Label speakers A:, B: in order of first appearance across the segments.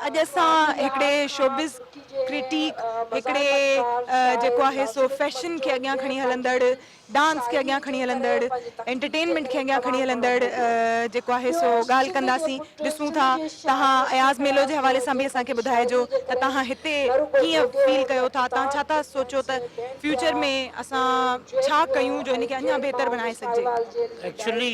A: اڄ اسان هڪڙي شوبز ڪرٽيڪ، هڪڙي جيڪو آهي سو فيشن کي اڳيان کڻي هلندڙ، ڊانس کي اڳيان کڻي هلندڙ، انٽرٽينمينٽ کي اڳيان کڻي هلندڙ جيڪو آهي سو ڳالهه ڪنداسين، ڏسون ٿا توهان اياز ميلو جي حوالي سان به اسان کي ٻڌائجو ته توهان هتي ڪيئن فيل ڪيو ٿا، توهان ڇا ٿا سوچو ته فيوچر ۾ اسان ڇا ڪيون جو ان کي اڃا بهتر بڻائي سگهجي. ايڪچولي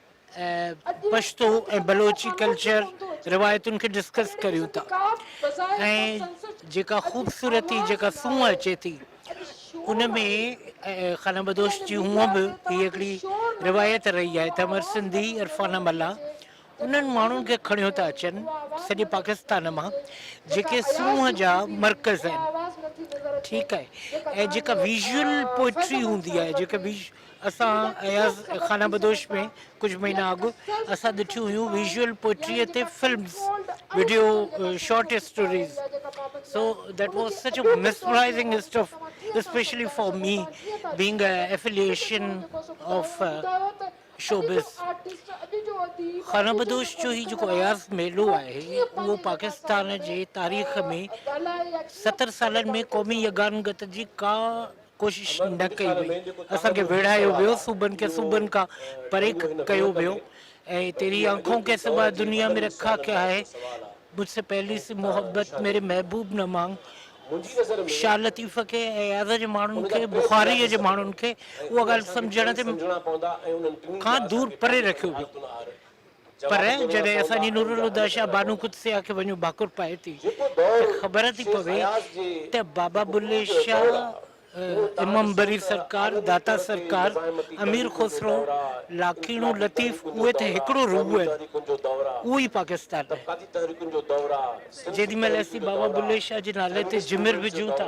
B: پشتو ۽ بلوچي ڪلچر روايتن کي ڊسڪس ڪريون ٿا ۽ جيڪا خوبصورتي جيڪا سونهن اچي ٿي ان ۾ خانه بدوش جي هونء به هي هڪڙي روايت رهي آهي ته امر سنڌي عرفانه ملا انهن ماڻهن کي کڻيو ٿا اچن سڄي پاڪستان مان جيڪي سونهن جا مرڪز آهن ٺيڪ آهي ۽ جيڪا ويزول پوئٽري هوندي آهي جيڪا ويز اسان اياز خانه بدوش ۾ ڪجهه مهينا اڳ اسان ڏٺيون هيون ويزوئل پوئٽريء تي films, video short stories so that was such a mesmerising stuff specially for me being a affiliation of showbiz. خانه بدوش جو هي جيڪو اياز ميلو آهي اهو پاڪستان جي تاريخ ۾ ستر سالن ۾ قومي يگانگت جي ڪا ڪوشش نه ڪئي وئي. اسان کي ويڙهايو ويو، صوبن کي صوبن کان پري ڪيو ويو ۽ تيري آنکون ڪي سوا دنيا مين رکا ڪيا هي، مجھ سي پهلي سي محبت ميري محبوب نه مانگ. شاھ لطيف کي ۽ اياز جي ماڻهن کي، بخاريء جي ماڻهن کي اها ڳالهه سمجهڻ کان دور پري رکيو ويو. پر جڏهن اسان جي نورالهديٰ شاهه بانو قدسيه کي وڃون ڀاڪر پائي ٿي ته خبر ٿي پوي ته بابا بلي شاهه، امام بري سرڪار، داتا سرڪار، امير خسرو، لاکيڻو لطيف اهي ته هڪڙو روح آهن. اهو ئي پاڪستان آهي. جيڏي مهل اسين بابا بلي شاهه جي نالي تي جمر وجهون ٿا.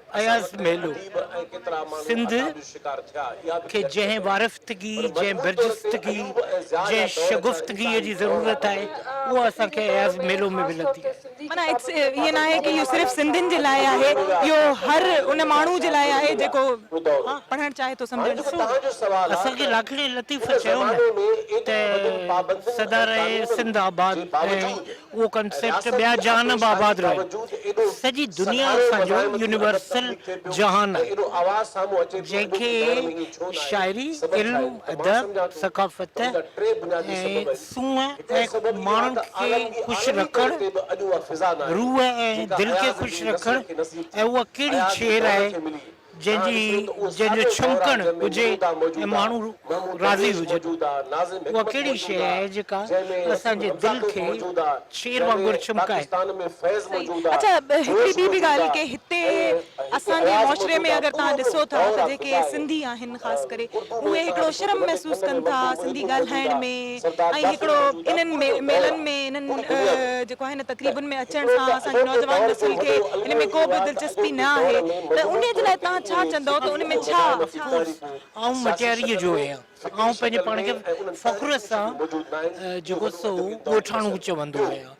B: اياز ميلو سنڌ کي جنهن وارفتگي، جنهن برجستگي، جنهن شگفتگيء جي ضرورت آهي، اها اسان کي اياز ميلو ۾ ملندي آهي. معنيٰ ائين
A: ناهي ته اهو صرف سنڌين جي لاء آهي، اهو هر ان ماڻهو جي لاء آهي جيڪو پڙهڻ چاهي ٿو، سمجهڻ ٿو چاهي. اسان کي
B: لاکڙي لطيف چيو نه ته سدا رهي سنڌ آباد ۽ اهو ڪنسيپٽ ٻيا جهان به آباد رهيا. سڄي دنيا اسان جو يونيورسل جهان آهي، جنهن کي شاعري، علم، ادب، ثقافت ۽ سونهن ۽ ماڻهن کي خوش رکڻ، روح ۽ دل کي خوش رکڻ ۽ اها ڪهڙي شعر آهي، جنهن جي جنهن جو ڇمڪڻ ھجي ۽ ماڻھو راضي ھجن اھا ڪھڙي شيء آھي جيڪا اسان جي دل کي شير وانگر ڇمڪائي.
A: اڇا ھڪڙي ٻي به ڳالھه ڪي ھتي اسان جي معاشري ۾ اگر تھان ڏسو ٿا ته جيڪي سنڌي آھن. آهن خاص ڪري اهي هڪڙو شرم محسوس ڪن ٿا سنڌي ڳالهائڻ ۾ ۽ هڪڙو انهن ميلن ۾ انهن جيڪو آهي نه تقريبن ۾ اچڻ سان اسان جي نوجوان نسل کي ان ۾ ڪو به دلچسپي نه آهي ته انهي جي لاء توهان ڇا چوندؤ ته ان ۾ ڇا افڪورس آئون
B: مٽياريء جو آهيان آئون پنهنجي پاڻ کي فخر سان جيڪو سو ڳوٺاڻو چوندو آهيان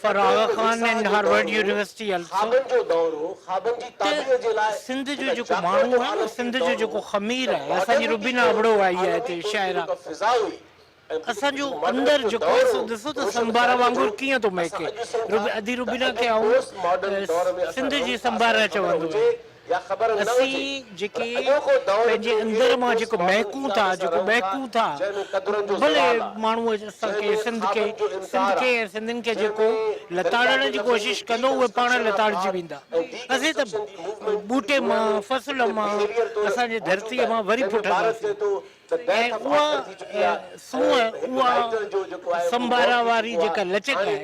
B: Faragh Khan and Harvard university also ته سنڌ جو جيڪو ماڻهو آهي نه سنڌ جو جيڪو خمير آهي اسان جي روبينا ابڙو آئي آهي هتي شاعره اسان جو اندر جيڪو آهي سو ڏسو ته سنڀار وانگر ڪيئن ٿو مهڪي ادي روبينا کي آئون سنڌ جي سنڀار چوندو آهيان. اسين جيڪي پنهنجي اندر مان جيڪو مهڪون ٿا، جيڪو مهڪون ٿا، ڀلي ماڻهو اسان کي، سنڌ کي، سنڌ کي ۽ سنڌين کي جيڪو لتاڙڻ جي ڪوشش ڪندو اهي پاڻ لتاڙجي ويندا. اسين ته ٻوٽي مان، فصل مان، اسان جي ڌرتيء مان وري ڦٽنداسين. ۽ اها سونهن، اها سنڀارا واري جيڪا لچڪ آهي،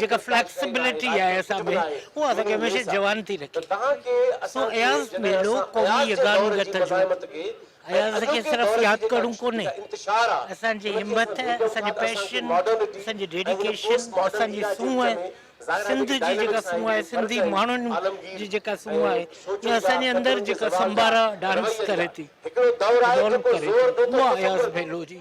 B: جيڪا فليڪسبلٽي آهي اسان ۾، اها اسان کي هميشه جوان ٿي رکي. سو اياز ميلو قومي يگان گت جو اياز کي صرف ياد ڪرڻو ڪونهي، اسان جي همٿ، اسان جي پيشن، اسان جي ڊيڊيڪيشن، اسان جي سونهن، سنڌ جي جيڪا سونهن آهي، سنڌي ماڻهن جي جيڪا سونهن آهي، اها اسان جي اندر جيڪا سمبارا ڊانس ڪري ٿي، Evolve ڪري ٿي، اها اياز ڀيلو جي.